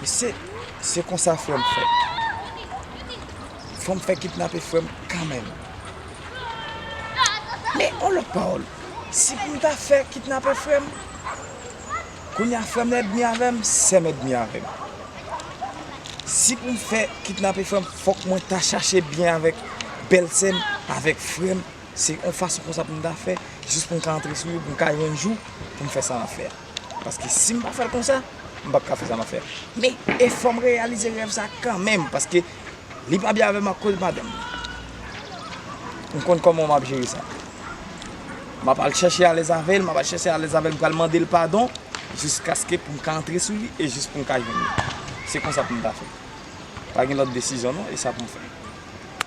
Mesye se konsa frem fe. Fom fe kidnape frem kanmenm. Men on lot pawol. Si poum ta fe kidnape frem. Kounya frem nan edmi avem, sem edmi avem. Si poum fe kidnape frem fok mwen ta chache byen avek bel sem, avek frem. Se on fason konsa poum ta fe. Jis poum ka antre sou yo, poum ka yon jou poum fe sa map fe a. Paske si m pa fè l konsa, m pap ka fè sa m ap fè a. Men, e fò m reyalize rèv sa a kanmenm, paske li pa byen avè m akoz madanm li. M konn kòman m ap jere sa. M ap al chèche alèz avè l, m ap al chèche alèz avè l, m pral mande l padon, jiskaske pou m ka antre sou li e jis pou m ka jwenn li. Se konsa pou m ta fè. Pa gen lòt desizyon non, e sa pou m fè.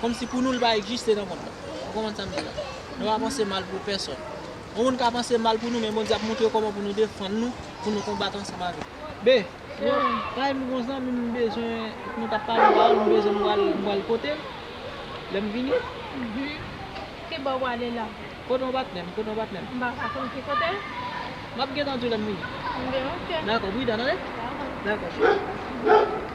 Kòmsi pou nou li pa ekjiste nan mond lan. Ou konprann sa m di la? Nou pa panse mal pou pèsòn. Yon moun ka panse mal pou nou men Bondye ap montre kòman pou nou defann nou, pou nou konbat ansanm avè l. B, Yon kay m yon zanmi m bezwen nou t ap pale yon pawòl m bezwen m pral m pral pote l lè m vini. B, Ki bò w prale la? Kote yon patnè m, kote yon patnè m. M pa ka konn ki kote l? M ap gentan di w lè m vini. B, Ok. Dakò, pridan tande. Dakò. Dakò cheri.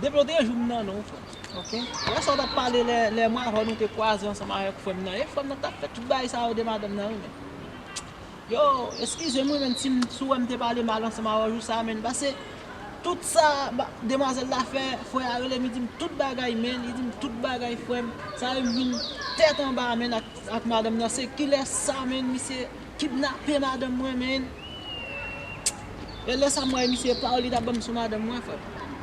Depi yo te joum nan non frèm. Ok. Wè sa w tap pale lè lè mwen avèw nou te kwaze ansanm avèk frèm nan e frèm nan tap fè tout bagay sa yo de madanm nan wi men yo eskizem wi men si m si w wè m te pale mal ansanm avèw jou sa men pase tout sa demwazèl la fè frè a rele m li di m tout bagay men li di m tout bagay frèm sa yo m vin tèt anba men ak madanm nan se kilès sa men misye Kidnape madanm mwen menn. E lè sa mwen misye pawol li tap banm sou madanm mwen frèm.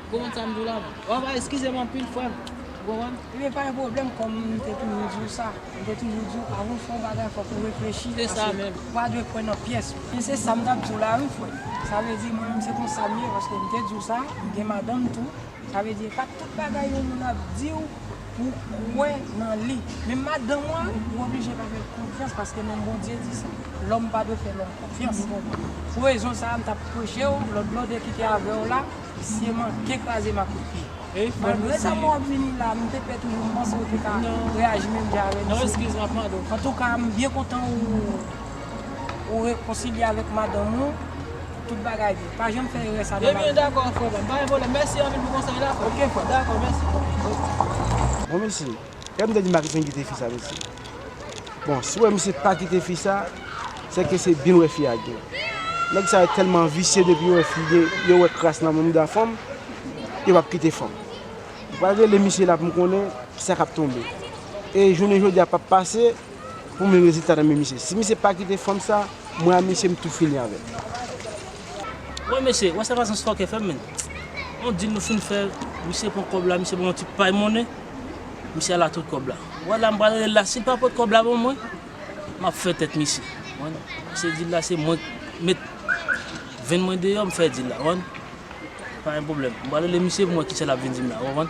Ou konprann sam diw la non. Wap a eskizem anpil frèm. Ou konprann? Ebyen pa gen pwoblèm kòm m te toujou diw sa. M te toujou diw avan w fè yon bagay fòk ou reflechi paske ou pa dwe kwè nan pyès. E se sam tap diw la wi frèm. Sa vle di mwen menm se konsa m ye paske m te diw sa. M gen madanm tou. Sa vle di e pa tout bagay yon moun ap diw. Ou kwè nan li. Men madanm ou a, ou oblije pa fè l konfyans paske menm Bondye di sa. Lòm pa dwe fè lòm konfyans. Pou rezon sa a, m t ap preche w, lòt blòdè ki te avè w la, visye manke kraze m a kout pye. Malgre sa mwen ap vini la, m te pè toujou, m panse w te ka reyaji menm jan avè m. Antouka, m byen kontan ou Ou rekonsilye avèk madanm ou pou tout bagay byen. Pa janm fè erè sa nan lavi. Ebyen dakò frè pam, pa gen pwoblèm. Mèsi anpil pou konsèy la. Ok frè. Dakò mèsi. Bon mesye, kèm te di m pa kite n kite fi sa mesye. Bon, si w wè misye pa kite fi sa, se ke se byen l wè fi a gen. Nèg sa yo tèlman visye depi yo wè fi gen, yo wè kras nan mouda fanm, yo pap kite fanm. M pral rele misye la pou m konnen kisa k ap tonbe. E jounen jodi a pap pase. Pou mwen rezilta nan men misye. Si misye pa kite fanm sa mwen a misye m tou fini avèl. Woy mesye, wè sa Mazens fòkè fè menn. On dil nou fin fè, misye pran kòb la, misye ban yon ti pay monnen, misye al atout kòb la. Wè la m pral rele l la, si l pa pot kòb la ban mwen, m ap fè tèt misye. Konprann? Pase dil la se mwen k met venn mwen deyò m fè dil la. Konprann? Pa gen pwoblèm. M pral rele misye pou m wè kisa l ap vin di m la. Ou konprann?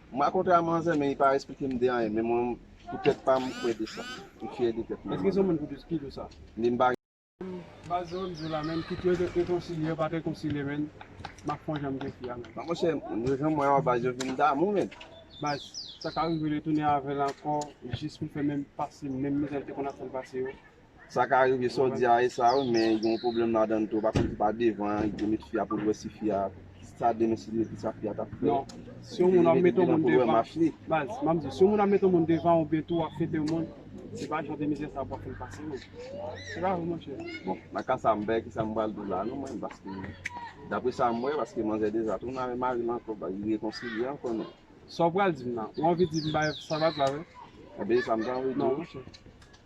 M rakonte a manzè men li pa esplike m de anyen men mwen pou tèt pa m m kwè de sa. M fyè de tèt mwen. Eske se yon moun ki dous ki dous sa? Li m pa. M pa janm di w la menm kit yo te rekonsilye yo pa te rekonsilye menn m ak manzè m te fi a menn. Bon monchè yo jan m wè yo a baz yo vin damou menn. Baz sa ka rive li tounen avè l ankò jis pou l fè menm pase menm mizè l te konn ap fè l pase yo. Sa ka rive sa w di a e sa wi men gen yon pwoblèm ladann tou ou pa konn se pa devan li te met fi a pou l wè si fi a sa demen si li met kisa fi a tap fè non si yon moun ap met yon moun devan baz m ap di si yon moun ap met yon moun devan oubyen tou wap fete yon moun se pa jan de mizè sa pou wap fè l pase non se pa vre monchè bon nan ka sa m pa wè kisa m pral di la non mwen paske daprè sa m wè paske manzè deza tounen avèk mari l ankò ba li rekonsilye ankò non sa w pral di m la ou anvi di m bay sa baz la vre e ben e sa m ta anvi di w non monchè.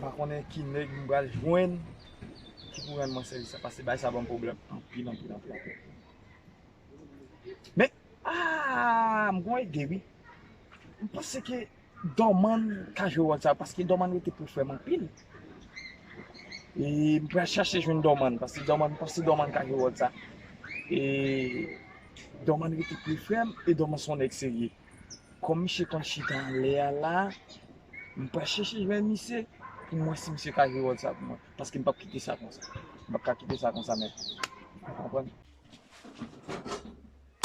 Mpa konnen ki nèg m pral jwenn ki pou rann mwen sèvis sa pase bagay sa banm pwoblèm anpil anpil anpil anpil Men aah m gon ide wi m panse ke Dòmann ka jwe wòl sa paske Dòmann rete pou frè m anpil e m pral chache jwenn Dòmann paske m panse Dòmann ka jwe wòl sa e. Dòman rete pi fèm e Dòman son nèg serye. Kòm misye konn chita anlè a la, m pral chèche jwenn misye pou m wè si misye ka jwe wòl sa pou mwen. Paske m p ap kite sa konsa. M p ap ka kite sa konsa menm. Ou konprann?